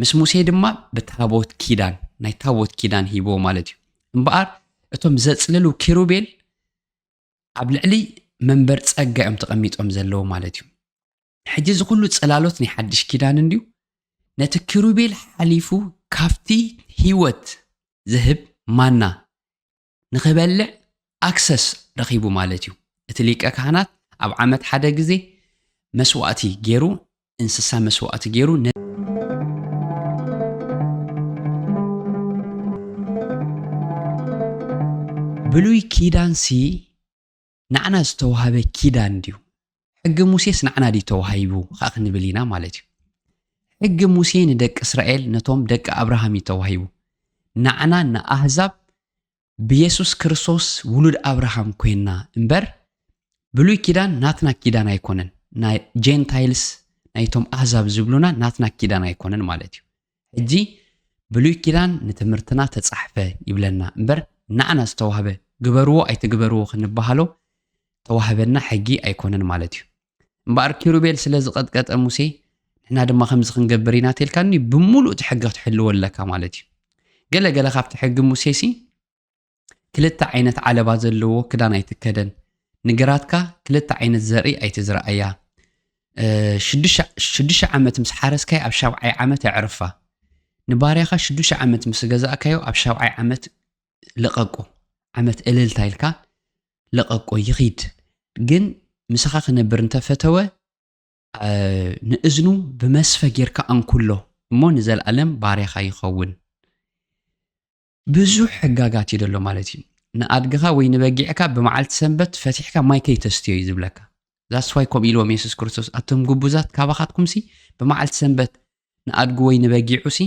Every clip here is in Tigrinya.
ምስ ሙሴ ድማ ብታቦት ኪዳን ናይ ታቦት ኪዳን ሂቦ ማለት እዩ እምበኣር እቶም ዘጽልሉ ኪሩቤል ኣብ ልዕሊ መንበር ጸጋ እዮም ተቐሚጦም ዘለዉ ማለት እዩ ሕጂ እዚ ኩሉ ጽላሎት ናይ ሓድሽ ኪዳን እንድዩ ነቲ ኪሩቤል ሓሊፉ ካብቲ ህይወት ዝህብ ማና ንክበልዕ ኣክሰስ ረኺቡ ማለት እዩ። እቲ ሊቀ ካህናት ኣብ ዓመት ሓደ ግዜ መስዋእቲ ገይሩ እንስሳ መስዋእቲ ገይሩ ብሉይ ኪዳንሲ ንዓና ዝተዋህበ ኪዳን ድዩ? ሕጊ ሙሴስ ንዓና ድዩ ተዋሂቡ ከኣ ክንብል ኢና ማለት እዩ። ሕጊ ሙሴ ንደቂ እስራኤል ነቶም ደቂ ኣብርሃም እዩ ተዋሂቡ። ንዓና ንኣህዛብ ብየሱስ ክርስቶስ ውሉድ ኣብርሃም ኮይንና እምበር ብሉይ ኪዳን ናትና ኪዳን ኣይኮነን። ናይ ጀንታይልስ ናይቶም ኣህዛብ ዝብሉና ናትና ኪዳን ኣይኮነን ማለት እዩ። ሕጂ ብሉይ ኪዳን ንትምህርትና ተጻሕፈ ይብለና እምበር ናዓና ዝተዋህበ ግበርዎ ኣይትግበርዎ ክንባሃሎ ተዋህበና ሕጊ ኣይኮነን ማለት እዩ እምበኣር ኪሩቤል ስለ ዝቐጥቀጠ ሙሴ ንሕና ድማ ከምዚ ክንገብር ኢና ተልካኒ ብምሉእ እቲ ሕጊ ክትሕልዎ ኣለካ ማለት እዩ ገለ ገለ ካብቲ ሕጊ ሙሴሲ ክልተ ዓይነት ዓለባ ዘለዎ ክዳን ኣይትከደን ንግራትካ ክልተ ዓይነት ዘርኢ ኣይትዝርኣያ ሽዱሽተ ዓመት ምስ ሓረስካዮ ኣብ ሻብዓይ ዓመት ኣዕርፋ ንባርያኻ ሽዱሽተ ዓመት ምስ ገዛእካዮ ኣብ ሻብዓይ ዓመት ልቐቁ ዓመት እልልታ ኢልካ ልቐቆ ይኺድ ግን ምሳኻ ክነብር እንተፈተወ ንእዝኑ ብመስፈ ጌርካ ኣንኩሎ እሞ ንዘለኣለም ባርያኻ ይኸውን ብዙሕ ሕጋጋት እዩ ደሎ ማለት እዩ ንኣድግኻ ወይ ንበጊዕካ ብመዓልቲ ሰንበት ፈቲሕካ ማይ ከይተስትዮ እዩ ዝብለካ ዛስ ዋይ ከምኡ ኢልዎም የሱስ ክርስቶስ ኣቶም ግቡዛት ካባኻትኩምሲ ብመዓልቲ ሰንበት ንኣድጉ ወይ ንበጊዑሲ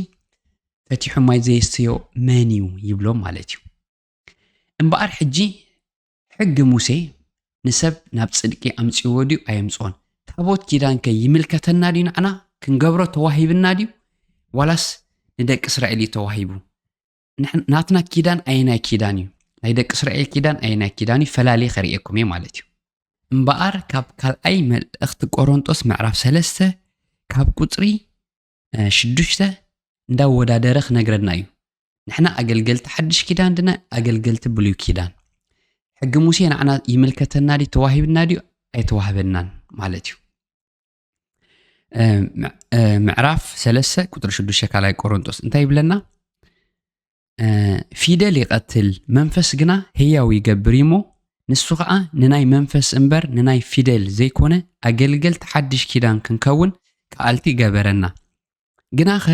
ፈቲሑ ማይ ዘየስትዮ መን እዩ ይብሎም ማለት እዩ እምበኣር ሕጂ ሕጊ ሙሴ ንሰብ ናብ ጽድቂ ኣምጺእዎ ድዩ ኣየምጽኦን? ታቦት ኪዳን ከ ይምልከተና ድዩ ንዓና? ክንገብሮ ተዋሂብና ድዩ ዋላስ ንደቂ እስራኤል እዩ ተዋሂቡ? ናትና ኪዳን ኣየናይ ኪዳን እዩ? ናይ ደቂ እስራኤል ኪዳን ኣየናይ ኪዳን እዩ? ፈላልየ ከርእየኩም እየ ማለት እዩ። እምበኣር ካብ ካልኣይ መልእኽቲ ቆሮንጦስ ምዕራፍ ሰለስተ ካብ ቁጽሪ ሽዱሽተ እንዳወዳደረ ክነግረና እዩ ንሕና ኣገልገልቲ ሓድሽ ኪዳን ድና ኣገልገልቲ ብሉይ ኪዳን ሕጊ ሙሴ ንዓና ይምልከተና ድዩ ተዋሂብና ድዩ ኣይተዋህበናን ማለት እዩ ምዕራፍ ሰለስተ ቁጥሪ ሽዱሽተ ካልኣይ ቆሮንጦስ እንታይ ይብለና ፊደል ይቐትል መንፈስ ግና ህያው ይገብር እዩሞ ንሱ ከዓ ንናይ መንፈስ እምበር ንናይ ፊደል ዘይኮነ ኣገልገልቲ ሓድሽ ኪዳን ክንከውን ከኣልቲ ገበረና ግናኸ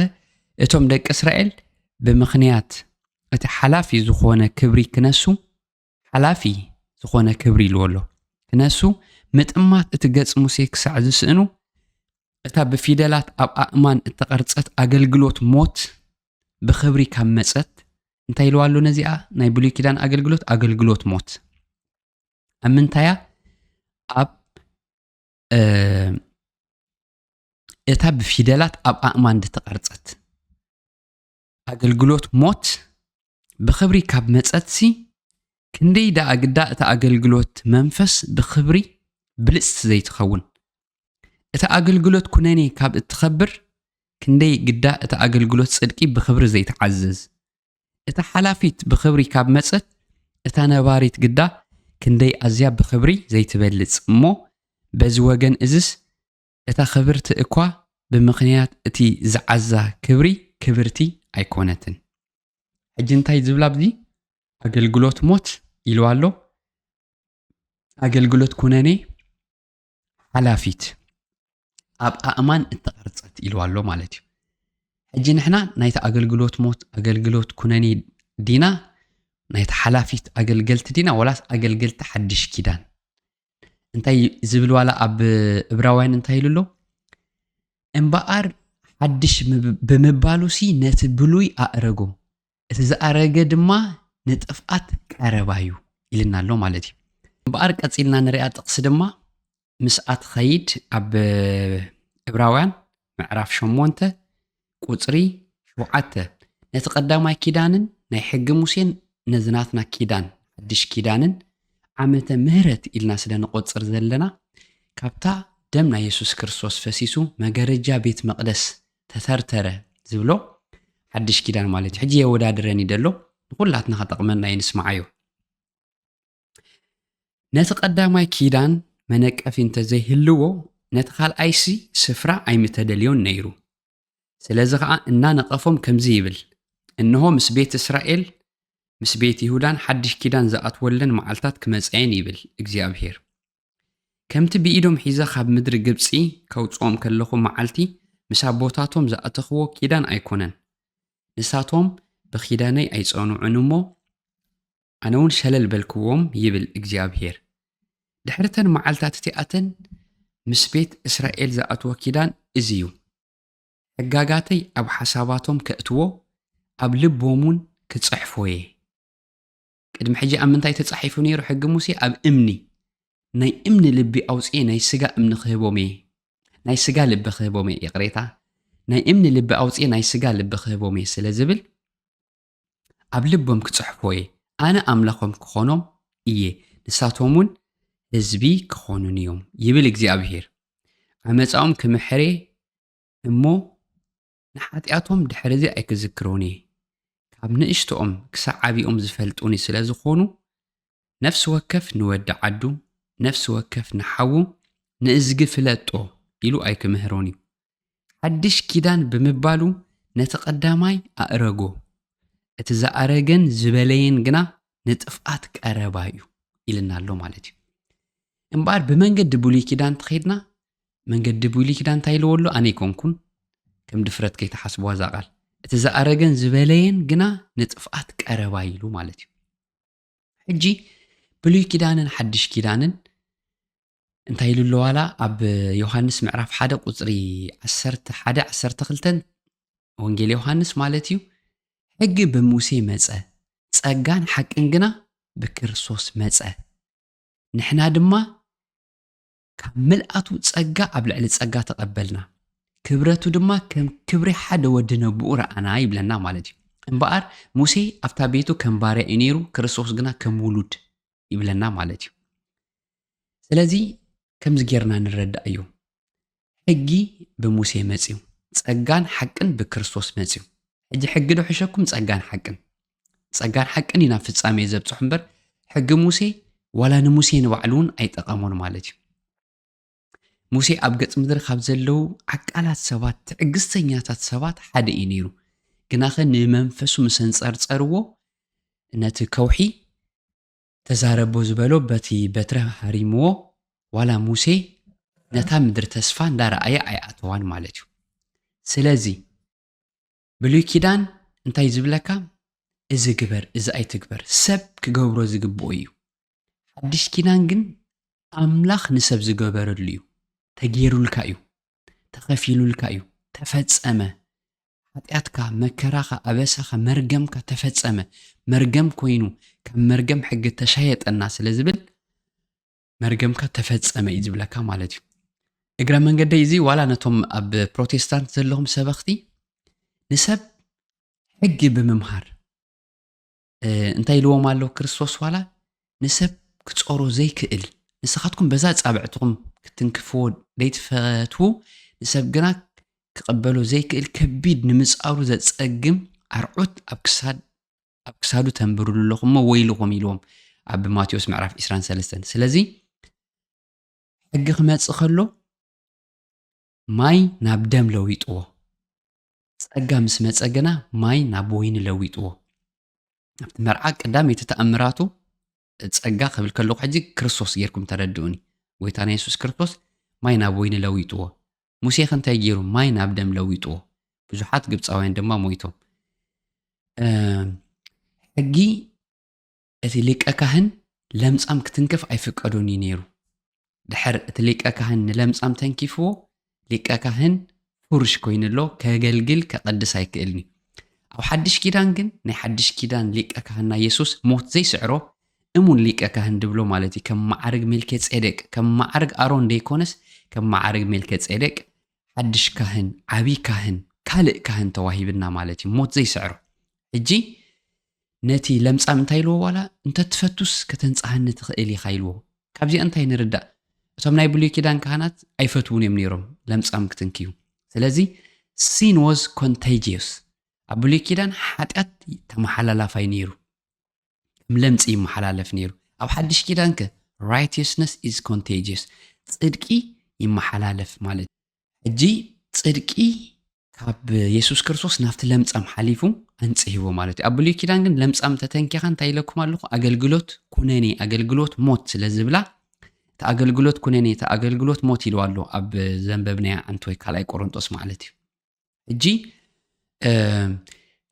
እቶም ደቂ እስራኤል ብምኽንያት እቲ ሓላፊ ዝኾነ ክብሪ ክነሱ ሓላፊ ዝኾነ ክብሪ ኢልዎ ኣሎ። ክነሱ ምጥማት እቲ ገጽ ሙሴ ክሳዕ ዝስእኑ፣ እታ ብፊደላት ኣብ ኣእማን እተቐርጸት ኣገልግሎት ሞት ብኽብሪ ካብ መጸት እንታይ ኢልዋ ኣሎ ነዚኣ ናይ ብሉይ ኪዳን ኣገልግሎት ኣገልግሎት ሞት ኣብ ምንታይ እያ ኣብ እታ ብፊደላት ኣብ ኣእማን ዝተቐርጸት ኣገልግሎት ሞት ብኽብሪ ካብ መጸትሲ፣ ክንደይ ደኣ ግዳ እታ ኣገልግሎት መንፈስ ብኽብሪ ብልጽቲ ዘይትኸውን! እታ ኣገልግሎት ኩነኔ ካብ እትኸብር፣ ክንደይ ግዳ እታ ኣገልግሎት ጽድቂ ብኽብሪ ዘይትዓዝዝ! እታ ሓላፊት ብኽብሪ ካብ መጸት፣ እታ ነባሪት ግዳ ክንደይ ኣዝያ ብኽብሪ ዘይትበልጽ! እሞ በዚ ወገን እዝስ እታ ኽብርቲ እኳ ብምኽንያት እቲ ዝዓዛ ክብሪ ክብርቲ ኣይኮነትን። ሕጂ እንታይ ዝብላ ኣብዚ ኣገልግሎት ሞት ኢልዋ ኣሎ ኣገልግሎት ኩነኔ ሓላፊት ኣብ ኣእማን እተቐርጸት ኢልዋ ኣሎ ማለት እዩ። ሕጂ ንሕና ናይቲ ኣገልግሎት ሞት ኣገልግሎት ኩነኔ ዲና ናይቲ ሓላፊት ኣገልገልቲ ዲና ወላስ ኣገልገልቲ ሓድሽ ኪዳን እንታይ ዝብል ዋላ ኣብ እብራውያን እንታይ ኢሉ ኣሎ እምበኣር ሓድሽ ብምባሉ ሲ ነቲ ብሉይ ኣእረጎ እቲ ዝኣረገ ድማ ንጥፍኣት ቀረባ እዩ ኢልና ኣሎ ማለት እዩ እምበኣር ቀፂልና ንሪኣ ጥቕሲ ድማ ምስኣ ትኸይድ ኣብ እብራውያን ምዕራፍ ሸሞንተ ቍጽሪ ሸውዓተ ነቲ ቀዳማይ ኪዳንን ናይ ሕጊ ሙሴን ነዚ ናትና ኪዳን ሓድሽ ኪዳንን ዓመተ ምህረት ኢልና ስለ ንቆጽር ዘለና ካብታ ደም ናይ የሱስ ክርስቶስ ፈሲሱ መገረጃ ቤት መቅደስ ተተርተረ ዝብሎ ሓድሽ ኪዳን ማለት እዩ ሕጂ የወዳድረን እዩ ደሎ ንኩላትና ከጠቅመና እዩ ንስማዓዮ ነቲ ቀዳማይ ኪዳን መነቀፊ እንተ ዘይህልዎ፣ ነቲ ካልኣይሲ ስፍራ ኣይምተደልዮን ነይሩ። ስለዚ ኸኣ እናነቐፎም ከምዚ ይብል፣ እንሆ ምስ ቤት እስራኤል ምስ ቤት ይሁዳን ሓድሽ ኪዳን ዝኣትወለን መዓልታት ክመጻየን ይብል እግዚኣብሄር። ከምቲ ብኢዶም ሒዘ ኻብ ምድሪ ግብጺ ከውጽኦም ከለኹ መዓልቲ ምስ ኣቦታቶም ዝኣተኽዎ ኪዳን ኣይኰነን። ንሳቶም ብኪዳነይ ኣይጸኑዑን እሞ፣ ኣነውን ሸለል በልክዎም ይብል እግዚኣብሄር። ድሕሪ እተን መዓልትታት እቲኣተን ምስ ቤት እስራኤል ዝኣትዎ ኪዳን እዚ እዩ፣ ሕጋጋተይ ኣብ ሓሳባቶም ከእትዎ፣ ኣብ ልቦምውን ክጽሕፎ እየ። ቅድሚ ሕጂ ኣብ ምንታይ ተጻሒፉ ነይሩ ሕጊ ሙሴ? ኣብ እምኒ። ናይ እምኒ ልቢ ኣውጽኤ ናይ ስጋ እምኒ ክህቦም እየ። ናይ ስጋ ልቢ ክህቦም እየ፣ ይቕሬታ። ናይ እምኒ ልቢ ኣውጽኤ ናይ ስጋ ልቢ ክህቦም እየ ስለ ዝብል ኣብ ልቦም ክጽሕፎ እየ፣ ኣነ ኣምላኾም ክኾኖም እየ፣ ንሳቶምውን ህዝቢ ክኾኑኒ እዮም፣ ይብል እግዚኣብሄር። ዓመጻኦም ክምሕር እየ እሞ፣ ንሓጢኣቶም ድሕርዚ ኣይክዝክሮን እየ። ካብ ንእሽቶኦም ክሳዕ ዓቢኦም ዝፈልጡኒ ስለ ዝኾኑ፣ ነፍሲ ወከፍ ንወዲ ዓዱ፣ ነፍሲ ወከፍ ንሓዉ፣ ንእዝጊ ፍለጦ ኢሉ ኣይክምህሮን እዩ፣ ሓድሽ ኪዳን ብምባሉ ነቲ ቀዳማይ ኣእረጎ፣ እቲ ዝኣረገን ዝበለየን ግና ንጥፍኣት ቀረባ እዩ ኢልና ኣሎ ማለት እዩ። እምበኣር ብመንገዲ ብሉይ ኪዳን ተኸይድና መንገዲ ብሉይ ኪዳን እንታይ ኢልዎ ኣሎ ኣነ ይኮንኩን ከም ድፍረት ከይተሓስብዋ እዛ ቃል እቲ ዝኣረገን ዝበለየን ግና ንጥፍኣት ቀረባ ኢሉ ማለት እዩ ሕጂ ብሉይ ኪዳንን ሓድሽ ኪዳንን እንታይ ኢሉ ኣለዋላ ኣብ ዮሃንስ ምዕራፍ ሓደ ቁፅሪ ዓሰርተ ሓደ ዓሰርተ ክልተን ወንጌል ዮሃንስ ማለት እዩ ሕጊ ብሙሴ መፀ ፀጋን ሓቅን ግና ብክርስቶስ መፀ ንሕና ድማ ካብ ምልኣቱ ጸጋ ኣብ ልዕሊ ጸጋ ተቐበልና፣ ክብረቱ ድማ ከም ክብሪ ሓደ ወዲ ነቡኡ ረኣና ይብለና ማለት እዩ። እምበኣር ሙሴ ኣብታ ቤቱ ከም ባርያ እዩ ነይሩ፣ ክርስቶስ ግና ከም ውሉድ ይብለና ማለት እዩ። ስለዚ ከምዚ ጌርና ንረዳእ እዩ። ሕጊ ብሙሴ መጽዩ፣ ጸጋን ሓቅን ብክርስቶስ መጽዩ። ሕጂ ሕጊ ዶ ሕሸኩም ጸጋን ሓቅን? ጸጋን ሓቅን እዩ ናብ ፍጻሜ ዘብጽሑ እምበር ሕጊ ሙሴ ዋላ ንሙሴ ንባዕሉ እውን ኣይጠቐሙን ማለት እዩ ሙሴ ኣብ ገጽ ምድሪ ካብ ዘለዉ ዓቃላት ሰባት ትዕግስተኛታት ሰባት ሓደ እዩ ነይሩ ግናኸ ንመንፈሱ ምስ ኣንጸርጸርዎ ነቲ ከውሒ ተዛረቦ ዝበሎ በቲ በትረ ሃሪምዎ ዋላ ሙሴ ነታ ምድሪ ተስፋ እንዳረኣየ ኣይኣተዋን ማለት እዩ ስለዚ ብሉይ ኪዳን እንታይ ዝብለካ እዚ ግበር እዚ ኣይትግበር ሰብ ክገብሮ ዝግብኦ እዩ ሓድሽ ኪዳን ግን ኣምላኽ ንሰብ ዝገበረሉ እዩ ተገይሩልካ እዩ ተኸፊሉልካ እዩ ተፈጸመ ኃጢኣትካ መከራኻ ኣበሳኻ መርገምካ ተፈጸመ መርገም ኮይኑ ካብ መርገም ሕጊ ተሻየጠና ስለ ዝብል መርገምካ ተፈጸመ እዩ ዝብለካ ማለት እዩ እግረ መንገደይ እዚ ዋላ ነቶም ኣብ ፕሮቴስታንት ዘለኹም ሰበኽቲ ንሰብ ሕጊ ብምምሃር እንታይ ኢልዎም ኣሎ ክርስቶስ ዋላ ንሰብ ክፀሮ ዘይክእል ንስኻትኩም በዛ ፃብዕትኹም ክትንክፍዎ ዘይትፈትዉ ንሰብ ግና ክቐበሎ ዘይክእል ከቢድ ንምፃሩ ዘፀግም ኣርዑት ኣብ ክሳድ ኣብ ክሳዱ ተንብርሉ ኣለኹም እሞ ወይልኹም ኢልዎም ኣብ ማቴዎስ ምዕራፍ 23 ስለዚ ሕጊ ክመፅእ ከሎ ማይ ናብ ደም ለዊጥዎ ጸጋ ምስ መጸ ግና ማይ ናብ ወይኒ ለዊጥዎ ኣብቲ መርዓ ቀዳመይቲ ተኣምራቱ ጸጋ ክብል ከለኹ ሕጂ ክርስቶስ ጌርኩም ተረድኡኒ። ጎይታና የሱስ ክርስቶስ ማይ ናብ ወይኒ ለዊጥዎ። ሙሴኸ እንታይ ጌሩ? ማይ ናብ ደም ለዊጥዎ። ብዙሓት ግብጻውያን ድማ ሞይቶም። ሕጊ እቲ ሊቀ ካህን ለምጻም ክትንክፍ ኣይፍቀዶን እዩ ነይሩ። ድሕር እቲ ሊቀ ካህን ንለምጻም ተንኪፍዎ ሊቀ ካህን ፉርሽ ኮይኑ ኣሎ ከገልግል ከቐድስ ኣይክእልን እዩ ኣብ ሓድሽ ኪዳን ግን ናይ ሓድሽ ኪዳን ሊቀ ካህና የሱስ ሞት ዘይስዕሮ እሙን ሊቀ ካህን ድብሎ ማለት እዩ ከም መዓርግ ሜልኬ ጼዴቅ ከም መዓርግ ኣሮን ዘይኮነስ ከም መዓርግ ሜልኬ ጼዴቅ ሓድሽ ካህን ዓብዪ ካህን ካልእ ካህን ተዋሂብና ማለት እዩ ሞት ዘይስዕሮ ሕጂ ነቲ ለምጻም እንታይ ኢልዎ ዋላ እንተ ትፈቱስ ከተንጽሃኒ ትኽእል ኢኻ ኢልዎ። ካብዚኣ እንታይ ንርዳእ እቶም ናይ ብሉይ ኪዳን ካህናት ኣይፈትዉን እዮም ነይሮም ለምጻም ክትንክዩ። ስለዚ ሲን ወዝ ኮንተጂየስ ኣብ ብሉይ ኪዳን ሓጢኣት ተመሓላላፋይ ነይሩ። ከም ለምጺ ይመሓላለፍ ነይሩ። ኣብ ሓድሽ ኪዳን ከ ራይትየስነስ ኢዝ ኮንተጂየስ ጽድቂ ይመሓላለፍ ማለት ሕጂ ጽድቂ ካብ የሱስ ክርስቶስ ናብቲ ለምጻም ሓሊፉ ኣንጽህዎ ማለት እዩ ኣብ ብሉይ ኪዳን ግን ለምጻም ተተንኪኻ እንታይ ኢለኩም ኣለኹ ኣገልግሎት ኩነኔ ኣገልግሎት ሞት ስለ ዝብላ እቲ ኣገልግሎት ኩነኔ እቲ ኣገልግሎት ሞት ኢልዋ ኣሎ ኣብ ዘንበብናያ ኣንቲ ወይ ካልኣይ ቆሮንጦስ ማለት እዩ ሕጂ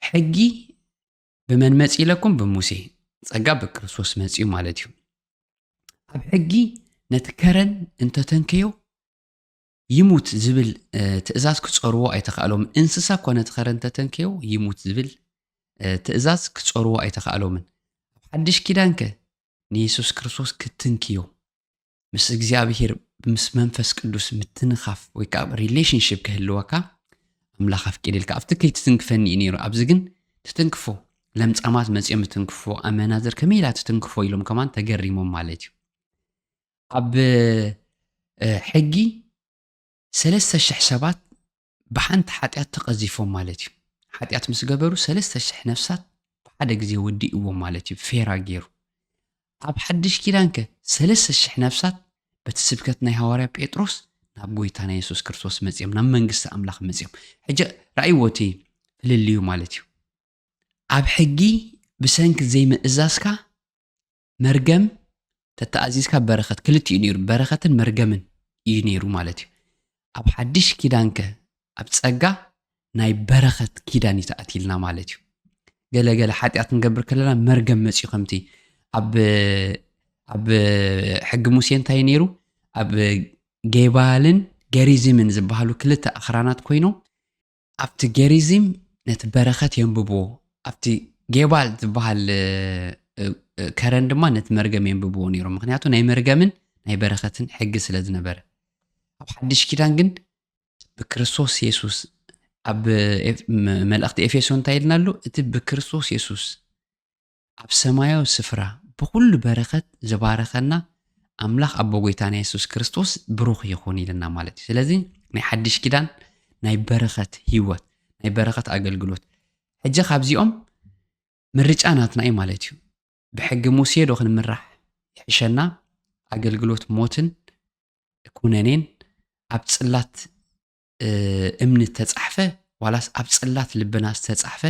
ሕጊ ብመን መፅ ኢለኩም ብሙሴ ፀጋ ብክርስቶስ መፅኡ ማለት እዩ ኣብ ሕጊ ነቲ ከረን እንተተንከዮ ይሙት ዝብል ትእዛዝ ክጸርዎ ኣይተኻእሎምን። እንስሳ እኳ ነቲ ኸረን ተተንከዮ ይሙት ዝብል ትእዛዝ ክጸርዎ ኣይተኻእሎምን። ኣብ ሓድሽ ኪዳንከ ንየሱስ ክርስቶስ ክትንክዮ ምስ እግዚኣብሄር ምስ መንፈስ ቅዱስ ምትንኻፍ ወይ ከዓ ሪሌሽንሽፕ ክህልወካ ኣምላኽ ኣፍቂድልካ ኣብቲ ከይትትንክፈኒ እዩ ነይሩ ኣብዚ ግን ትትንክፎ ለምፃማት መፅኦም ትትንክፎ ኣመናዝር ከመይ ኢላ ትትንክፎ ኢሎም ከማን ተገሪሞም ማለት እዩ ኣብ ሕጊ ሰለስተ ሽሕ ሰባት ብሓንቲ ሓጢኣት ተቐዚፎም ማለት እዩ። ሓጢኣት ምስ ገበሩ ሰለስተ ሽሕ ነፍሳት ብሓደ ግዜ ወዲእዎም ማለት እዩ፣ ፌራ ገይሩ። ኣብ ሓድሽ ኪዳን ከ ሰለስተ ሽሕ ነፍሳት በቲ ስብከት ናይ ሃዋርያ ጴጥሮስ ናብ ጎይታና የሱስ ክርስቶስ መጺኦም ናብ መንግስቲ ኣምላኽ መጺኦም። ሕጂ ራእይዎ እቲ ፍልልዩ ማለት እዩ። ኣብ ሕጊ ብሰንኪ ዘይምእዛዝካ መርገም ተተኣዚዝካ በረኸት ክልቲኡ ነይሩ በረኸትን መርገምን እዩ ነይሩ ማለት እዩ ኣብ ሓድሽ ኪዳንከ ኣብ ጸጋ ናይ በረኸት ኪዳን እዩ ተኣትልና ማለት እዩ ገለገለ ሓጢኣት ንገብር ከለና መርገም መፅዩ ከምቲ ኣብ ኣብ ሕጊ ሙሴ እንታይ ነይሩ ኣብ ጌባልን ገሪዝምን ዝበሃሉ ክልተ ኣኽራናት ኮይኖም ኣብቲ ጌሪዚም ነቲ በረኸት የንብብዎ፣ ኣብቲ ጌባል ዝበሃል ከረን ድማ ነቲ መርገም የንብብዎ ነይሮም፣ ምክንያቱ ናይ መርገምን ናይ በረኸትን ሕጊ ስለ ዝነበረ። ኣብ ሓድሽ ኪዳን ግን ብክርስቶስ የሱስ ኣብ መልእኽቲ ኤፌሶን እንታይ ኢልና ኣሎ? እቲ ብክርስቶስ የሱስ ኣብ ሰማያዊ ስፍራ ብኹሉ በረኸት ዝባረኸና ኣምላኽ ኣቦ ጎይታና የሱስ ክርስቶስ ብሩኽ ይኹን ኢልና ማለት እዩ። ስለዚ ናይ ሓድሽ ኪዳን ናይ በረኸት ህይወት፣ ናይ በረኸት ኣገልግሎት ሕጂ ካብዚኦም ምርጫ ናትና እዩ ማለት እዩ። ብሕጊ ሙሴ ዶ ክንምራሕ ይሕሸና? ኣገልግሎት ሞትን ኩነኔን ኣብ ጽላት እምኒ እተጻሕፈ ዋላስ ኣብ ጽላት ልብና ዝተጻሕፈ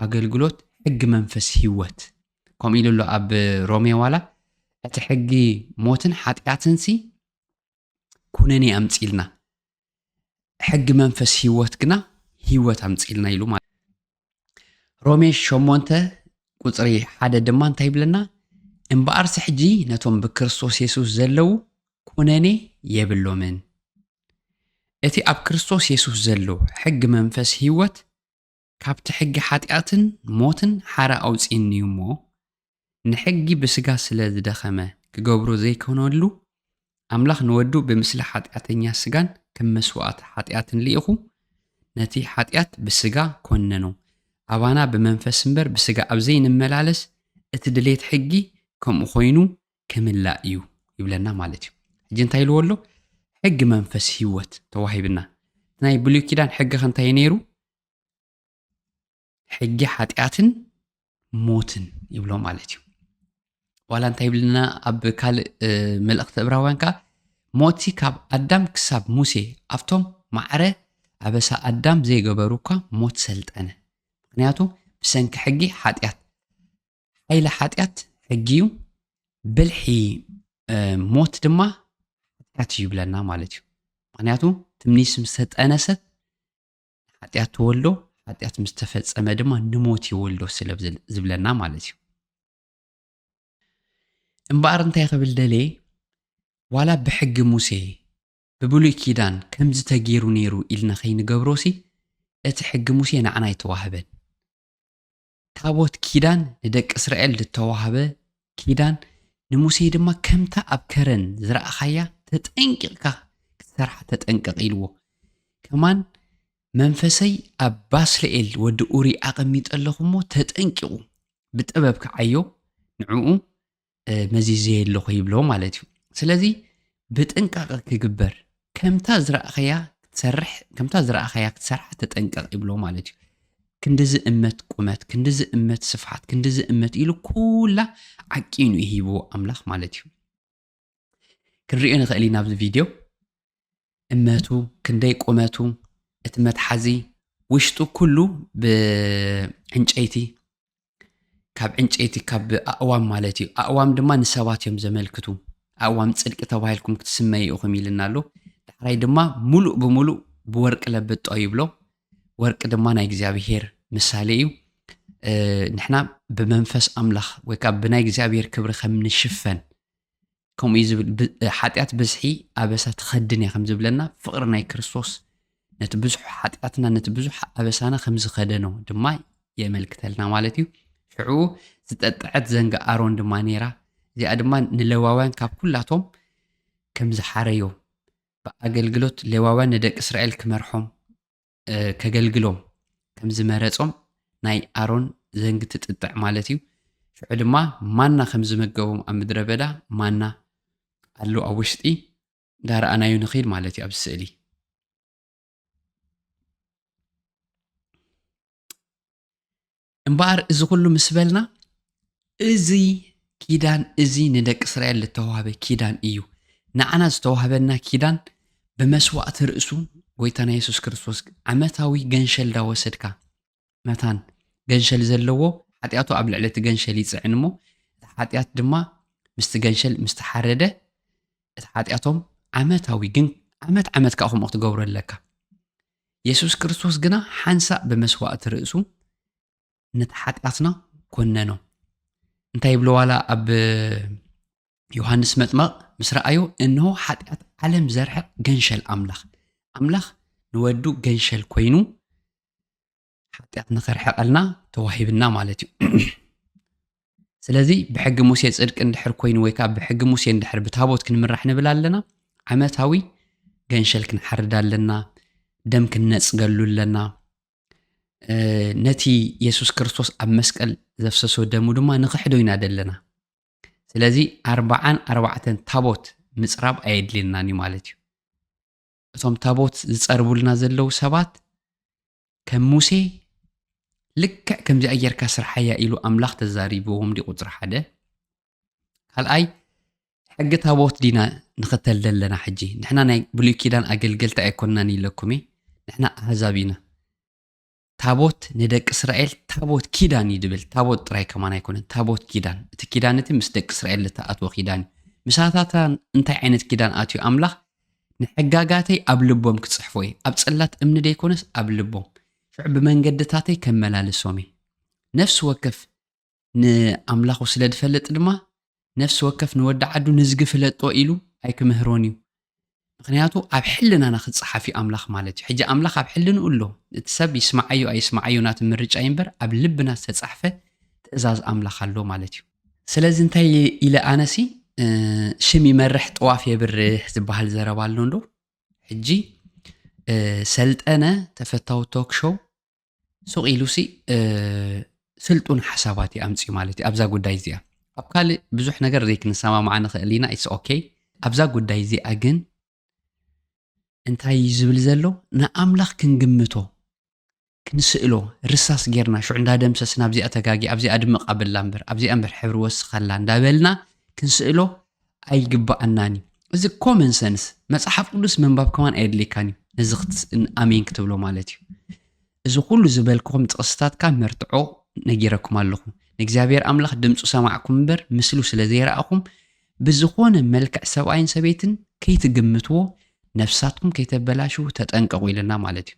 ኣገልግሎት ሕጊ መንፈስ ህይወት ከምኡ ኢሉ ኣሎ ኣብ ሮሜ ዋላ እቲ ሕጊ ሞትን ሓጢኣትን ሲ ኩነኔ ኣምፂልና ሕጊ መንፈስ ሂወት ግና ሂወት ኣምፂልና ኢሉ ማለት ሮሜ ሸሞንተ ቁፅሪ ሓደ ድማ እንታይ ይብለና እምበኣርሲ ሕጂ ነቶም ብክርስቶስ የሱስ ዘለዉ ኩነኔ የብሎምን እቲ ኣብ ክርስቶስ የሱስ ዘሎ ሕጊ መንፈስ ህይወት ካብቲ ሕጊ ሓጢኣትን ሞትን ሓራ ኣውፅእኒ እዩ እሞ ንሕጊ ብስጋ ስለ ዝደኸመ ክገብሮ ዘይከነሉ ኣምላኽ ንወዱ ብምስሊ ሓጢኣተኛ ስጋን ከም መስዋእቲ ሓጢኣትን ልኢኹ ነቲ ሓጢኣት ብስጋ ኮነኖ ኣባና ብመንፈስ እምበር ብስጋ ኣብ ዘይንመላለስ እቲ ድሌት ሕጊ ከምኡ ኮይኑ ክምላእ እዩ ይብለና ማለት እዩ ሕጂ እንታይ ኢልዎ ኣሎ ሕጊ መንፈስ ህይወት ተዋሂብና ናይ ብሉይ ኪዳን ሕጊ ከ እንታይ ነይሩ ሕጊ ሓጢኣትን ሞትን ይብሎ ማለት እዩ ዋላ እንታይ ይብልና ኣብ ካልእ መልእኽቲ እብራውያን ከዓ ሞቲ ካብ ኣዳም ክሳብ ሙሴ ኣብቶም ማዕረ ኣበሳ ኣዳም ዘይገበሩ እኳ ሞት ሰልጠነ ምክንያቱ ብሰንኪ ሕጊ ሓጢኣት ሓይሊ ሓጢኣት ሕጊ እዩ ብልሒ ሞት ድማ ሓጢኣት እዩ ይብለና ማለት እዩ ምክንያቱ ትምኒስ ምስ ተጠነሰት ሓጢኣት ትወልዶ ሓጢኣት ምስ ተፈጸመ ድማ ንሞት ይወልዶ ስለ ዝብለና ማለት እዩ እምበኣር እንታይ ክብል ደልየ ዋላ ብሕጊ ሙሴ ብብሉይ ኪዳን ከምዚ ተገይሩ ነይሩ ኢልና ከይንገብሮሲ እቲ ሕጊ ሙሴ ንዓና ኣይተዋህበን ታቦት ኪዳን ንደቂ እስራኤል ዝተዋህበ ኪዳን ንሙሴ ድማ ከምታ ኣብ ከረን ዝረኣኻያ ተጠንቂቕካ ክትሰርሓ ተጠንቀቕ ኢልዎ። ከማን መንፈሰይ ኣብ ባስልኤል ወዲ ኡሪ ኣቐሚጠ ኣለኹ እሞ ተጠንቂቑ ብጥበብ ክዓዮ ንዕኡ መዚዘየ ኣለኹ ይብሎ ማለት እዩ ስለዚ ብጥንቃቐ ክግበር ከምታ ዝረእኸያ ክትሰርሕ ከምታ ዝረእኸያ ክትሰርሓ ተጠንቀቕ ይብሎ ማለት እዩ ክንዲዚ እመት ቁመት ክንዲዚ እመት ስፍሓት ክንዲዚ እመት ኢሉ ኩላ ዓቂኑ ይሂብዎ ኣምላኽ ማለት እዩ ክንሪኦ ንኽእል ኢና ኣብዚ ቪድዮ እመቱ ክንደይ ቁመቱ እቲ መትሓዚ ውሽጡ ኩሉ ብዕንጨይቲ ካብ ዕንጨይቲ ካብ ኣእዋም ማለት እዩ ኣእዋም ድማ ንሰባት እዮም ዘመልክቱ ኣእዋም ፅድቂ ተባሂልኩም ክትስመዩ ኢኹም ኢልና ኣሎ ዳሕራይ ድማ ሙሉእ ብሙሉእ ብወርቂ ለብጦ ይብሎ ወርቂ ድማ ናይ እግዚኣብሄር ምሳሌ እዩ ንሕና ብመንፈስ ኣምላኽ ወይ ከዓ ብናይ እግዚኣብሄር ክብሪ ከም ንሽፈን ከምኡ እዩ ዝብል ሓጢኣት ብዝሒ ኣበሳ ትኸድን እያ ከም ዝብለና ፍቕሪ ናይ ክርስቶስ ነቲ ብዙሕ ሓጢኣትና ነቲ ብዙሕ ኣበሳና ከም ዝኸደኖ ድማ የመልክተልና ማለት እዩ ሽዑ ዝጠጠዐት ዘንጋ ኣሮን ድማ ነይራ እዚኣ ድማ ንሌዋውያን ካብ ኩላቶም ከም ዝሓረዮም ብኣገልግሎት ሌዋውያን ንደቂ እስራኤል ክመርሖም ከገልግሎም ከም ዝመረጾም ናይ ኣሮን ዘንግ ትጥጥዕ ማለት እዩ። ሽዑ ድማ ማና ከም ዝመገቦም ኣብ ምድረ በዳ ማና ኣሎ ኣብ ውሽጢ እንዳረኣናዩ ንኽድ ማለት እዩ ኣብዚ ስእሊ እምበኣር እዚ ኩሉ ምስ በልና እዚ ኪዳን እዚ ንደቂ እስራኤል ዝተዋህበ ኪዳን እዩ። ንዓና ዝተዋህበና ኪዳን ብመስዋእቲ ርእሱ ጎይታና የሱስ ክርስቶስ ዓመታዊ ገንሸል ዳወሰድካ መታን ገንሸል ዘለዎ ሓጢኣቱ ኣብ ልዕሊ እቲ ገንሸል ይፅዕን እሞ እቲ ሓጢኣት ድማ ምስቲ ገንሸል ምስ ተሓረደ እቲ ሓጢኣቶም ዓመታዊ ግን ዓመት ዓመት ከዓ ከምኡ ክትገብሩ ኣለካ የሱስ ክርስቶስ ግና ሓንሳእ ብመስዋእቲ ርእሱ ነቲ ሓጢኣትና ኰነኖ። እንታይ ይብሎ ዋላ ኣብ ዮሃንስ መጥመቕ ምስ ረኣዮ እንሆ ሓጢኣት ዓለም ዘርሕቕ ገንሸል ኣምላኽ ኣምላኽ ንወዱ ገንሸል ኮይኑ ሓጢኣት ንኸርሕቐልና ተዋሂብና ማለት እዩ ስለዚ ብሕጊ ሙሴ ፅድቂ እንድሕር ኮይኑ ወይ ከዓ ብሕጊ ሙሴ እንድሕር ብታቦት ክንምራሕ ንብል ኣለና ዓመታዊ ገንሸል ክንሓርድ ኣለና ደም ክንነፅገሉ ኣለና ነቲ የሱስ ክርስቶስ ኣብ መስቀል ዘፍሰሶ ደሙ ድማ ንኽሕዶ ኢና ዘለና ስለዚ ኣርባዓን ኣርባዕተን ታቦት ምፅራብ ኣየድልየናን እዩ ማለት እዩ እቶም ታቦት ዝጸርቡልና ዘለዉ ሰባት ከም ሙሴ ልክዕ ከምዚኣ ጌርካ ስርሓያ ኢሉ ኣምላኽ ተዛሪብዎም ዲ ቁጽሪ ሓደ ካልኣይ ሕጊ ታቦት ዲና ንኽተል ዘለና ሕጂ ንሕና ናይ ብሉይ ኪዳን ኣገልገልቲ ኣይኮንናን ኢለኩም እየ ንሕና ኣህዛብ ኢና ታቦት ንደቂ እስራኤል ታቦት ኪዳን እዩ ድብል ታቦት ጥራይ ከማን ኣይኮነን ታቦት ኪዳን እቲ ኪዳን እቲ ምስ ደቂ እስራኤል ዝተኣትወ ኪዳን እዩ ምሳታታ እንታይ ዓይነት ኪዳን ኣትዩ ኣምላኽ ንሕጋጋተይ ኣብ ልቦም ክጽሕፎ እየ ኣብ ጽላት እምኒ ደይኮነስ ኣብ ልቦም ሽዑ ብመንገድታተይ ከመላልሶም እየ ነፍሲ ወከፍ ንኣምላኹ ስለ ዝፈልጥ ድማ ነፍሲ ወከፍ ንወዲ ዓዱ ንዝጊ ፍለጦ ኢሉ ኣይክምህሮን እዩ። ምኽንያቱ ኣብ ሕልናና ክጸሓፍ እዩ ኣምላኽ ማለት እዩ። ሕጂ ኣምላኽ ኣብ ሕልንኡ ኣሎ። እቲ ሰብ ይስምዓዮ ኣይስምዓዮ ናቱ ምርጫ እዩ እምበር ኣብ ልብና ዝተጻሕፈ ትእዛዝ ኣምላኽ ኣሎ ማለት እዩ። ስለዚ እንታይ ኢለ ኣነሲ ሽም ይመርሕ ጥዋፍ የብርህ ዝበሃል ዘረባ ኣሎ እንዶ ሕጂ ሰልጠነ ተፈታዊ ቶክ ሾው ሱቕ ኢሉሲ ስልጡን ሓሳባት እዩ ኣምፅኡ ማለት እዩ ኣብዛ ጉዳይ እዚኣ ኣብ ካልእ ብዙሕ ነገር ዘይክንሰማማዓ ንኽእል ኢና ኢትስ ኦኬ ኣብዛ ጉዳይ እዚኣ ግን እንታይ እዩ ዝብል ዘሎ ንኣምላኽ ክንግምቶ ክንስእሎ ርሳስ ጌርና ሽዑ እንዳደምሰስ ናብዚኣ ተጋጊ ኣብዚኣ ድምቕ ኣብላ እምበር ኣብዚኣ እምበር ሕብሪ ወስኸላ እንዳበልና ክንስእሎ ኣይግበኣናን እዩ እዚ ኮመን ሰንስ መጽሓፍ ቅዱስ ምንባብ ከማን ኣየድልየካን እዩ ነዚ ኣሜን ክትብሎ ማለት እዩ እዚ ኩሉ ዝበልክኹም ጥቕስታት ካብ መርትዖ ነጊረኩም ኣለኹ ንእግዚኣብሔር ኣምላኽ ድምፁ ሰማዕኩም እምበር ምስሉ ስለ ዘይረኣኹም ብዝኾነ መልክዕ ሰብኣይን ሰበይትን ከይትግምትዎ ነፍሳትኩም ከይተበላሽው ተጠንቀቑ ኢለና ማለት እዩ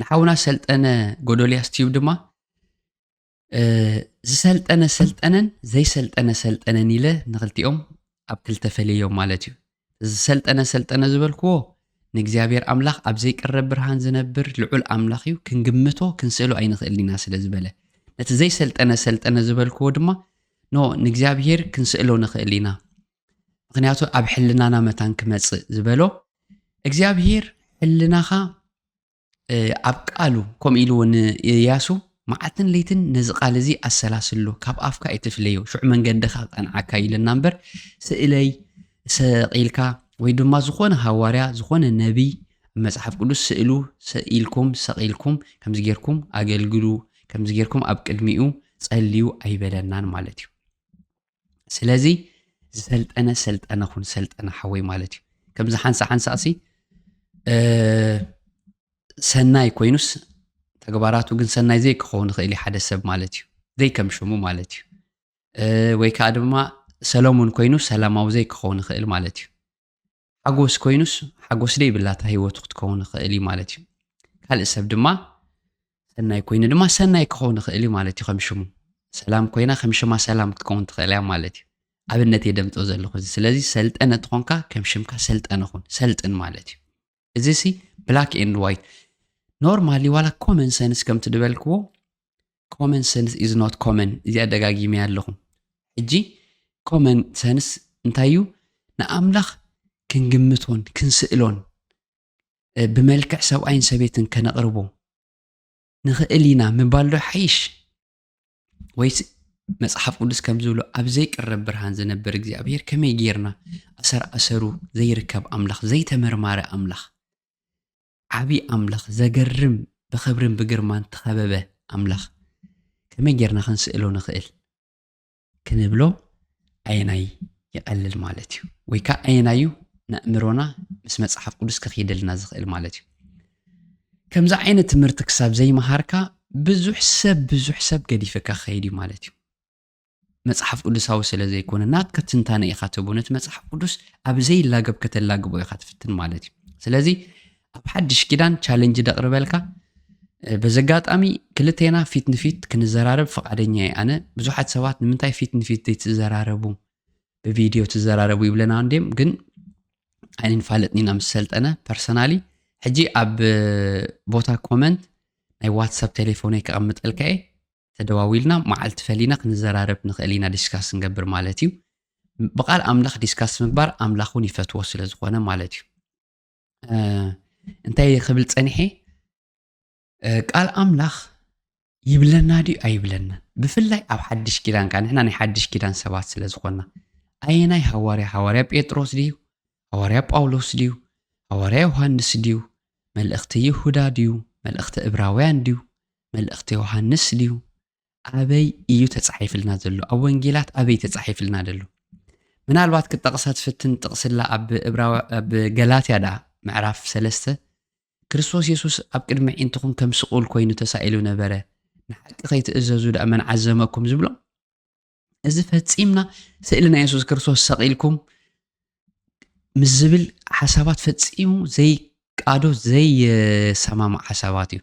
ንሓውና ሰልጠነ ጎዶልያስ ትዩብ ድማ ዝሰልጠነ ሰልጠነን ዘይሰልጠነ ሰልጠነን ኢለ ንክልቲኦም ኣብ ክልተ ፈለዮም ማለት እዩ ዝሰልጠነ ሰልጠነ ዝበልክዎ ንእግዚኣብሔር ኣምላኽ ኣብ ዘይቅረብ ብርሃን ዝነብር ልዑል ኣምላኽ እዩ ክንግምቶ ክንስእሎ ኣይንኽእል ኢና ስለ ዝበለ ነቲ ዘይሰልጠነ ሰልጠነ ዝበልክዎ ድማ ኖ ንእግዚኣብሔር ክንስእሎ ንኽእል ኢና ምክንያቱ ኣብ ሕልናና መታን ክመፅእ ዝበሎ እግዚኣብሔር ሕልናኻ ኣብ ቃሉ ከምኡ ኢሉ እውን እያሱ መዓልትን ለይትን ነዚ ቃል እዚ ኣሰላስሎ ካብ ኣፍካ ኣይትፍለዮ ሽዑ መንገድኻ ክቐንዓካ ኢለና እምበር ስእለይ ሰቂልካ ወይ ድማ ዝኾነ ሃዋርያ ዝኾነ ነቢይ መጽሓፍ ቅዱስ ስእሉ ሰኢልኩም ሰቂልኩም ከምዚ ጌርኩም ኣገልግሉ ከምዚ ጌርኩም ኣብ ቅድሚኡ ጸልዩ ኣይበለናን ማለት እዩ ስለዚ ዝሰልጠነ ሰልጠነ ኹን ሰልጠነ ሓወይ ማለት እዩ ከምዚ ሓንሳ ሓንሳእሲ ሰናይ ኮይኑስ ተግባራቱ ግን ሰናይ ዘይክኸውን ይኽእል እዩ ሓደ ሰብ ማለት እዩ ዘይከም ሽሙ ማለት እዩ ወይ ከዓ ድማ ሰለሙን ኮይኑ ሰላማዊ ዘይክኸውን ይኽእል ማለት እዩ ሓጎስ ኮይኑስ ሓጎስ ደይብላ እታ ህይወቱ ክትከውን ይኽእል እዩ ማለት እዩ ካልእ ሰብ ድማ ሰናይ ኮይኑ ድማ ሰናይ ክኸውን ይኽእል እዩ ማለት እዩ ከም ሽሙ ሰላም ኮይና ከም ሽማ ሰላም ክትከውን ትኽእል እያ ማለት እዩ ኣብነት እየ ደምፆ ዘለኹ እዚ ስለዚ ሰልጠነ ትኾንካ ከም ሽምካ ሰልጠነ ኹን ሰልጥን ማለት እዩ እዚ ሲ ብላክ ኤንድ ዋይት ኖርማሊ ዋላ ኮመን ሰንስ ከም ትድበልክዎ ኮመን ሰንስ ኢዝ ኖት ኮመን እዚኣ ደጋጊመያ ኣለኹ ሕጂ ኮመን ሰንስ እንታይ እዩ ንኣምላኽ ክንግምቶን ክንስእሎን ብመልክዕ ሰብኣይን ሰበይትን ከነቕርቦ ንኽእል ኢና ምባል ዶ ሓይሽ ወይስ መጽሓፍ ቅዱስ ከም ዝብሎ ኣብ ዘይቅረብ ብርሃን ዝነብር እግዚኣብሄር ከመይ ጌርና ኣሰር ኣሰሩ ዘይርከብ ኣምላኽ ዘይተመርማረ ኣምላኽ ዓብዪ ኣምላኽ ዘገርም ብኽብርን ብግርማን ተኸበበ ኣምላኽ ከመይ ጌርና ክንስእሎ ንኽእል ክንብሎ ኣየናይ ይቐልል ማለት እዩ ወይ ከዓ ኣየናይ እዩ ንእምሮና ምስ መፅሓፍ ቅዱስ ክኽይደልና ዝኽእል ማለት እዩ ከምዚ ዓይነት ትምህርቲ ክሳብ ዘይመሃርካ ብዙሕ ሰብ ብዙሕ ሰብ ገዲፈካ ክኸይድ እዩ ማለት እዩ መፅሓፍ ቅዱሳዊ ስለ ዘይኮነ ናትካ ትንታነ ኢኻ ትህቦ ነቲ መፅሓፍ ቅዱስ ኣብ ዘይላገብ ከተላግቦ ኢኻ ትፍትን ማለት እዩ ስለዚ ኣብ ሓድሽ ኪዳን ቻለንጅ ደቕርበልካ በዚ ኣጋጣሚ ክልቴና ፊት ንፊት ክንዘራረብ ፈቃደኛ እየ ኣነ ብዙሓት ሰባት ንምንታይ ፊት ንፊት ዘይትዘራረቡ ብቪድዮ ትዘራረቡ ይብለና እንዲም ግን ኣይንፋለጥን ኢና ምስ ሰልጠነ ፐርሰናሊ ሕጂ ኣብ ቦታ ኮመንት ናይ ዋትሳፕ ቴሌፎነይ ከቐምጠልካ እየ ተደዋዊልና መዓልቲ ፈሊና ክንዘራረብ ንኽእል ኢና ዲስካስ ንገብር ማለት እዩ ብቓል ኣምላኽ ዲስካስ ምግባር ኣምላኽ እውን ይፈትዎ ስለ ዝኾነ ማለት እዩ እንታይ ክብል ፀኒሐ ቃል ኣምላኽ ይብለና ድዩ ኣይብለናን ብፍላይ ኣብ ሓድሽ ኪዳን ከዓ ንሕና ናይ ሓድሽ ኪዳን ሰባት ስለ ዝኾና ኣየናይ ሃዋርያ ሃዋርያ ጴጥሮስ ድዩ ሃዋርያ ጳውሎስ ድዩ ሃዋርያ ዮሃንስ ድዩ መልእኽቲ ይሁዳ ድዩ መልእኽቲ እብራውያን ድዩ መልእኽቲ ዮሃንስ ድዩ ኣበይ እዩ ተጻሒፍልና ዘሎ ኣብ ወንጌላት ኣበይ ተጻሒፍልና ደሎ ምናልባት ክጠቕሳ ትፍትን ጥቕስላ ኣብ ኣብ ገላትያ ደኣ ምዕራፍ ሰለስተ ክርስቶስ የሱስ ኣብ ቅድሚ ዒንትኹም ከም ስቑል ኮይኑ ተሳኢሉ ነበረ ንሓቂ ከይትእዘዙ ደኣ መን ዓዘመኩም ዝብሎም እዚ ፈፂምና ስእሊ ናይ የሱስ ክርስቶስ ሰቒልኩም ምስ ዝብል ሓሳባት ፈፂሙ ዘይቃዶ ዘይሰማማዕ ሓሳባት እዩ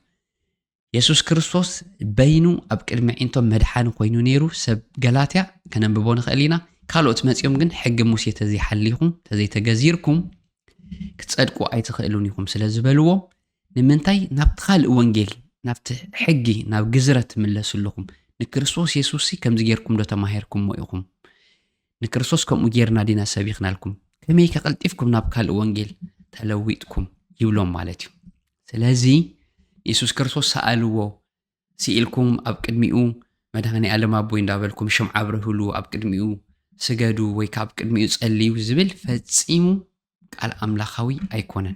የሱስ ክርስቶስ በይኑ ኣብ ቅድሚ ዒንቶም መድሓኒ ኮይኑ ነይሩ ሰብ ገላትያ ከነንብቦ ንኽእል ኢና ካልኦት መፂኦም ግን ሕጊ ሙሴ ተዘይሓሊኹም ተዘይተገዚርኩም ክፀድቁ ኣይትኽእሉን ኢኹም ስለ ዝበልዎም ንምንታይ ናብቲ ካልእ ወንጌል፣ ናብቲ ሕጊ፣ ናብ ግዝረት ትምለሱ ኣለኹም? ንክርስቶስ የሱስሲ ከምዚ ጌርኩምዶ ተማሂርኩሞ ኢኹም? ንክርስቶስ ከምኡ ጌርና ዲና ሰቢኽናልኩም? ከመይከ ቀልጢፍኩም ናብ ካልእ ወንጌል ተለዊጥኩም? ይብሎም ማለት እዩ። ስለዚ ንየሱስ ክርስቶስ ሰኣልዎ፣ ስኢልኩም ኣብ ቅድሚኡ መድሃኔ ኣለም ኣቦይ እንዳበልኩም ሽምዓ ኣብርህሉ፣ ኣብ ቅድሚኡ ስገዱ ወይ ከዓ ኣብ ቅድሚኡ ጸልዩ ዝብል ፈጺሙ ቃል ኣምላኻዊ ኣይኮነን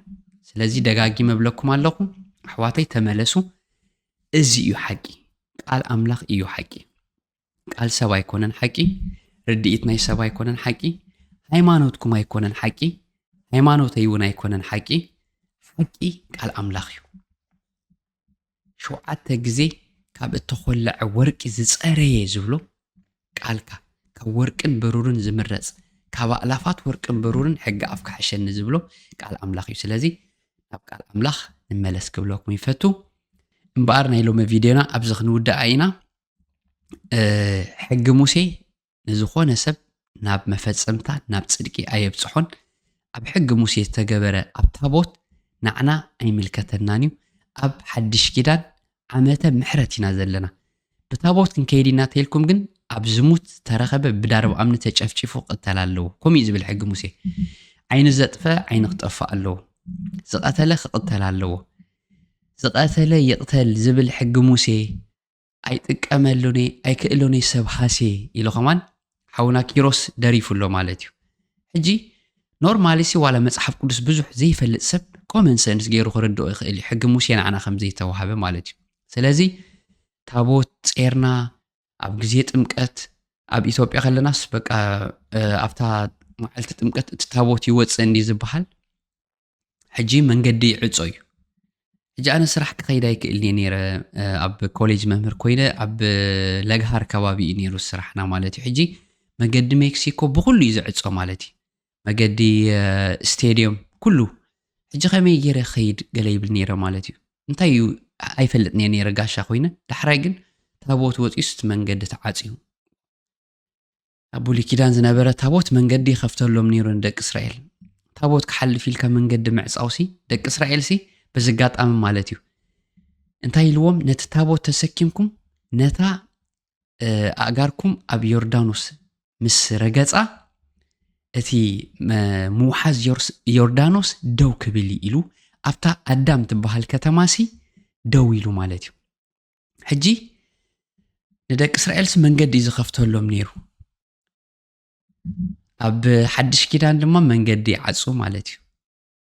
ስለዚ ደጋጊመ እብለኩም ኣለኹ ኣሕዋተይ ተመለሱ እዚ እዩ ሓቂ ቃል ኣምላኽ እዩ ሓቂ ቃል ሰብ ኣይኮነን ሓቂ ርድኢት ናይ ሰብ ኣይኮነን ሓቂ ሃይማኖትኩም ኣይኮነን ሓቂ ሃይማኖተይ እውን ኣይኮነን ሓቂ ሓቂ ቃል ኣምላኽ እዩ ሸውዓተ ግዜ ካብ እተዀለዐ ወርቂ ዝጸረየ ዝብሎ ቃልካ፣ ካብ ወርቅን ብሩርን ዝምረጽ፣ ካብ ኣእላፋት ወርቅን ብሩርን ሕጊ ኣፍካ ሕሸኒ ዝብሎ ቃል ኣምላኽ እዩ። ስለዚ ናብ ቃል ኣምላኽ ንመለስ ክብለኩም ይፈቱ። እምበኣር ናይ ሎሚ ቪድዮና ኣብዚ ክንውድኣ ኢና። ሕጊ ሙሴ ንዝኾነ ሰብ ናብ መፈጸምታ ናብ ጽድቂ ኣየብጽሖን፣ ኣብ ሕጊ ሙሴ ዝተገበረ ኣብ ታቦት ናዕና ኣይምልከተናን እዩ፣ ኣብ ሓድሽ ኪዳን ዓመተ ምሕረት ኢና ዘለና፣ ብታቦት ክንከይድ ኢና ተልኩም ግን ኣብ ዝሙት ዝተረኸበ ብዳርብ ኣምኒ ተጨፍጪፉ ክቅተል ኣለዎ፣ ከምኡ እዩ ዝብል ሕጊ ሙሴ፣ ዓይኒ ዘጥፈ ዓይኒ ክጠፍእ ኣለዎ፣ ዝቀተለ ክቅተል ኣለዎ፣ ዝቀተለ ይቅተል ዝብል ሕጊ ሙሴ፣ ኣይጥቀመሉን እየ ኣይክእሉን እየ ሰብ ሃሴ ኢሉ ከማን ሓውና ኪሮስ ደሪፉ ኣሎ ማለት እዩ ሕጂ ኖርማሊ ሲ ዋላ መጽሓፍ ቅዱስ ብዙሕ ዘይፈልጥ ሰብ ኮመን ሰንስ ገይሩ ክርድኦ ይኽእል እዩ ሕጊ ሙሴ ንዓና ከም ዘይተዋሃበ ማለት እዩ ስለዚ ታቦት ጼርና ኣብ ግዜ ጥምቀት ኣብ ኢትዮጵያ ከለናስ በቃ ኣብታ መዓልቲ ጥምቀት እቲ ታቦት ይወፅእ እንዲ ዝበሃል ሕጂ መንገዲ ይዕጾ እዩ ሕጂ ኣነ ስራሕ ክኸይድ ኣይክእልን እየ ነይረ ኣብ ኮሌጅ መምህር ኮይነ ኣብ ለግሃር ከባቢ እዩ ነይሩ ስራሕና ማለት እዩ ሕጂ መገዲ ሜክሲኮ ብኩሉ እዩ ዝዕጾ ማለት እዩ መገዲ ስቴድዮም ኩሉ ሕጂ ከመይ ገይረ ከይድ ገለ ይብል ነይረ ማለት እዩ እንታይ እዩ ኣይፈልጥ እየ ነይረ ጋሻ ኮይነ ዳሕራይ ግን ታቦት ወፂኡስ እቲ መንገዲ ተዓፅዩ ኣብ ብሉይ ኪዳን ዝነበረ ታቦት መንገዲ ይኸፍተሎም ነይሩ ንደቂ እስራኤል። ታቦት ክሓልፍ ኢልካ መንገዲ ምዕፃውሲ ደቂ እስራኤልሲ በዚ ኣጋጣሚ ማለት እዩ እንታይ ኢልዎም ነቲ ታቦት ተሰኪምኩም ነታ ኣእጋርኩም ኣብ ዮርዳኖስ ምስ ረገፃ እቲ ምውሓዝ ዮርዳኖስ ደው ክብል ኢሉ ኣብታ ኣዳም ትበሃል ከተማሲ ደው ኢሉ ማለት እዩ ሕጂ ንደቂ እስራኤልሲ መንገዲ እዩ ዝኸፍተሎም ነይሩ ኣብ ሓድሽ ኪዳን ድማ መንገዲ ይዓፁ ማለት እዩ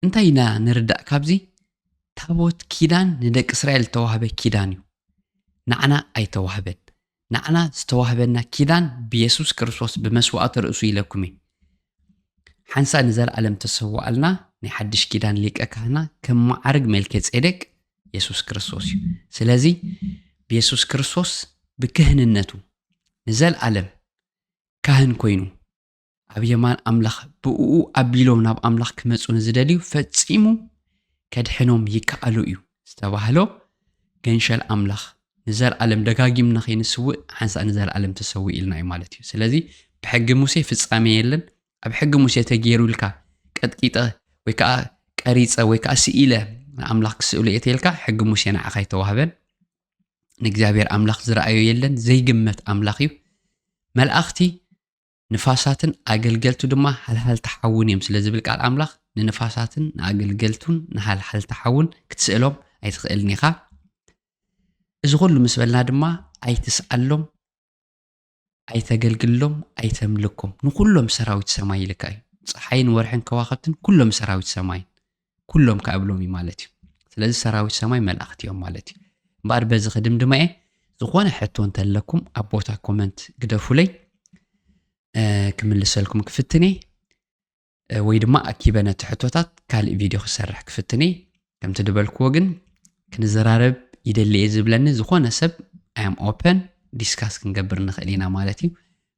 እንታይ ኢና ንርዳእ ካብዚ ታቦት ኪዳን ንደቂ እስራኤል ዝተዋህበ ኪዳን እዩ ንዓና ኣይተዋህበን ንዓና ዝተዋህበና ኪዳን ብየሱስ ክርስቶስ ብመስዋእቲ ርእሱ ኢለኩም እዩ ሓንሳ ንዘለኣለም ተሰዋኣልና ናይ ሓድሽ ኪዳን ሊቀ ካህና ከም መዓርግ መልከ ጼዴቅ የሱስ ክርስቶስ እዩ። ስለዚ ብየሱስ ክርስቶስ ብክህንነቱ ንዘልኣለም ካህን ኮይኑ ኣብ የማን ኣምላኽ ብእኡ ኣቢሎም ናብ ኣምላኽ ክመጹ ንዝደልዩ ፈጺሙ ከድሕኖም ይከኣሉ እዩ ዝተባህሎ ገንሸል ኣምላኽ ንዘልኣለም ደጋጊምና ከይንስውእ ሓንሳእ ንዘልኣለም ተሰዊ ኢልና እዩ ማለት እዩ። ስለዚ ብሕጊ ሙሴ ፍጻሜ የለን፣ ኣብ ሕጊ ሙሴ ተገይሩልካ ቀጥቂጠ ወይ ከዓ ቀሪፀ ወይ ከዓ ስኢለ ንኣምላኽ ክስእሉ እየ ተልካ ሕጊ ሙሴ ንዓኻ ኣይተዋህበን ንእግዚኣብሔር ኣምላኽ ዝረኣዮ የለን ዘይግመት ኣምላኽ እዩ መልኣኽቲ ንፋሳትን ኣገልገልቱ ድማ ሃልሃልታ ሓውን እዮም ስለ ዝብል ቃል ኣምላኽ ንንፋሳትን ንኣገልገልቱን ንሃልሃልታ ሓውን ክትስእሎም ኣይትኽእልን ኢኻ እዚ ኩሉ ምስ በልና ድማ ኣይትስኣሎም ኣይተገልግሎም ኣይተምልኮም ንዅሎም ሰራዊት ሰማይ ኢልካ እዩ ፀሓይን ወርሕን ከዋኸብትን ኩሎም ሰራዊት ሰማይን ኩሎም ከዓ እብሎም እዩ ማለት እዩ ስለዚ ሰራዊት ሰማይ መላእኽቲ እዮም ማለት እዩ እምበኣር በዚ ክድምድማ እየ ዝኾነ ሕቶ እንተለኩም ኣብ ቦታ ኮመንት ግደፉለይ ክምልሰልኩም ክፍትን እየ ወይ ድማ ኣኪበ ነቲ ሕቶታት ካልእ ቪድዮ ክሰርሕ ክፍትን እየ ከምቲ ዝበልክዎ ግን ክንዘራረብ ይደሊ እየ ዝብለኒ ዝኾነ ሰብ ኣም ኦፐን ዲስካስ ክንገብር ንኽእል ኢና ማለት እዩ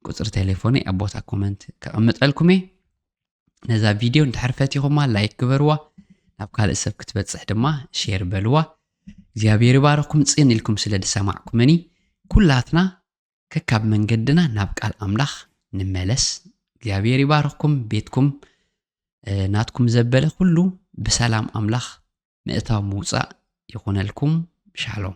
ቁፅሪ ቴሌፎነይ ኣብ ቦታ ኮመንት ከቐምጠልኩም እየ ነዛ ቪድዮ እንድሕር ፈቲኹማ ላይክ ግበርዋ ናብ ካልእ ሰብ ክትበፅሕ ድማ ሼር በልዋ እግዚኣብሔር ይባረኩም ፅን ኢልኩም ስለ ዝሰማዕኩምኒ ኩላትና ከካብ መንገድና ናብ ቃል ኣምላኽ ንመለስ እግዚኣብሔር ይባርኽኩም ቤትኩም ናትኩም ዘበለ ኩሉ ብሰላም ኣምላኽ ምእታው ምውፃእ ይኹነልኩም ሻሎም